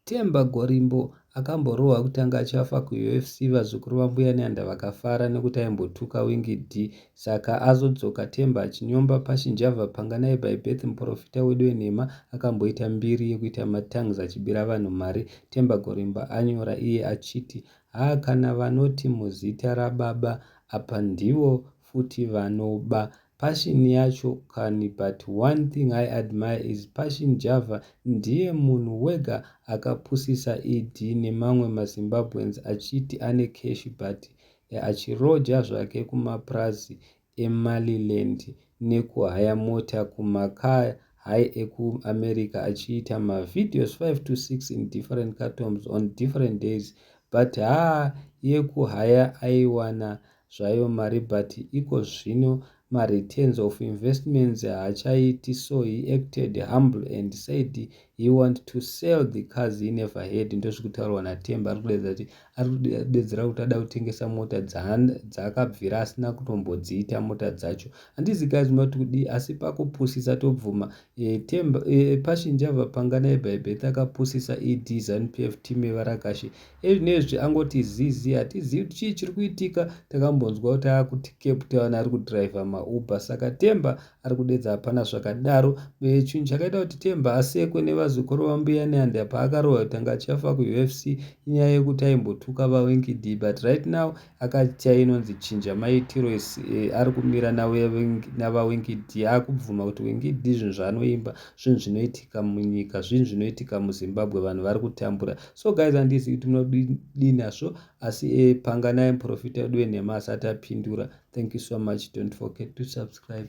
Themba Gorimbo akamborohwa kutanga achafa kuUFC vazukuru vaMbuya Nyanda vakafara nekuti aimbotuka Winky Dee saka azodzoka Themba achinyomba Pashy Njavha panga naye by birth muporofita wedu wenhema akamboita mbiri yekuita matongues achibira vanhu mari Themba Gorimbo anyora iye achiti haa kana vanoti muzita rababa apa ndivo futi vanoba Passion yacho kani but one thing I admire is Passion Java ndiye munhu wega akapusisa ED nemamwe ma Zimbabweans achiti ane cash but achiroja zvake kumapurazi eMaliland nekuhaya mota kuma car high eku America achiita ma videos 5 to 6 in different cartoms on different days but haa yekuhaya aiwana zvayo mari but iko zvino ma returns of investments haachaiti so he acted humble and said he want to sell the cars he never had ndozvikutaurwa naTemba ari kudaidza kuti ari kudedzera kuti ada kutengesa mota dzaakabvira asina kutombodziita mota dzacho handizi guys mati kudii asi pakupusisa tobvuma e, Temba e, Pashinjava pangana ebhaibheti akapusisa ed zanupf team yevarakashi Ezvinezvi angoti zizi hatizivi kuti chii chiri kuitika takambonzwa kuti akuti Cape Town ari kudriver maUber saka Temba ari kudedza hapana zvakadaro uye chinhu chakaita kuti Temba asekwe nevazukuru vaMbuya Nyanda paakarohwa kuti anga achafa kuUFC inyaya yekuti aimbotuka vaWinky Dee but right now Akati chai inonzi chinja maitiro ari kumira navaWingidi akubvuma kuti Wingidi zvinhu zvaanoimba zvinhu zvinoitika munyika zvinhu zvinoitika muZimbabwe vanhu vari kutambura so guys handizivi kuti munodii nazvo asi e, panganai muprofita wedu wenhema asati apindura thank you so much don't forget to subscribe